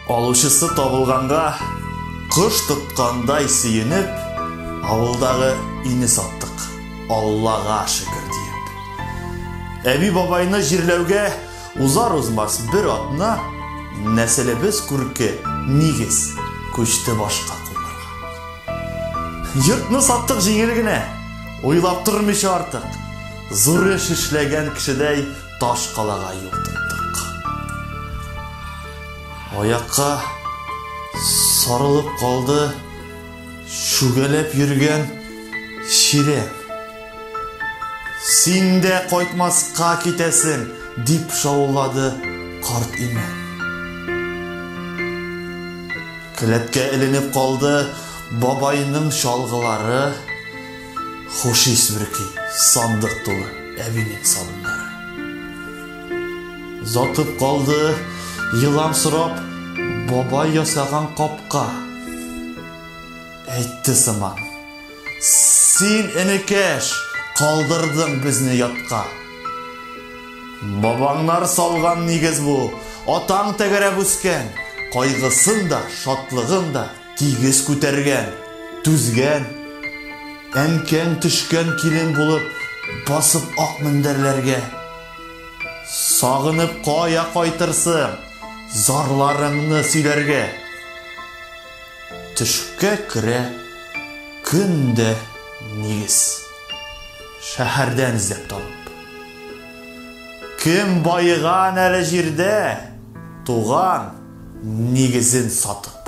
Алучысы табылганга, кош тоткандай сөенеп, авылдагы өйне саттык. Аллага шөкер диеп. Әби бабайны җирләүгә узар узмас бер атна нәселебез күрке нигез күчте башка кулларга. Йортны саттык җиңел генә, уйлап тормыйча артык. Зур эш эшләгән кешедәй Таш калага юл тоттык. Аякка сарылып калды шүгәләп йөргән чирә. Син дә кайтмаска китәсең, дип шаулады карт имән. Келәткә эленеп калды бабайның чалгылары. Хуш ис бөрки сандык тулы әбинең сабыннары. Затып калды, елам сорап, бабай ясаган капка. Әйтте сыман. Син, энекәш, калдырдың безне ятка. Бабаңнар салган нигез бу, атаң тәгәрәп үскән, кайгысын да, шатлыгын да Тигез күтәргән, түзгән, әнкәң төшкән килен булып басып ак мендәрләргә. Сагынып кая кайтырсың, зарларыңны сөйләргә. Төшкә керә көн дә нигез. Шәһәрдән эзләп табып. Кем байыган әле җирдә, туган, нигезен сатып.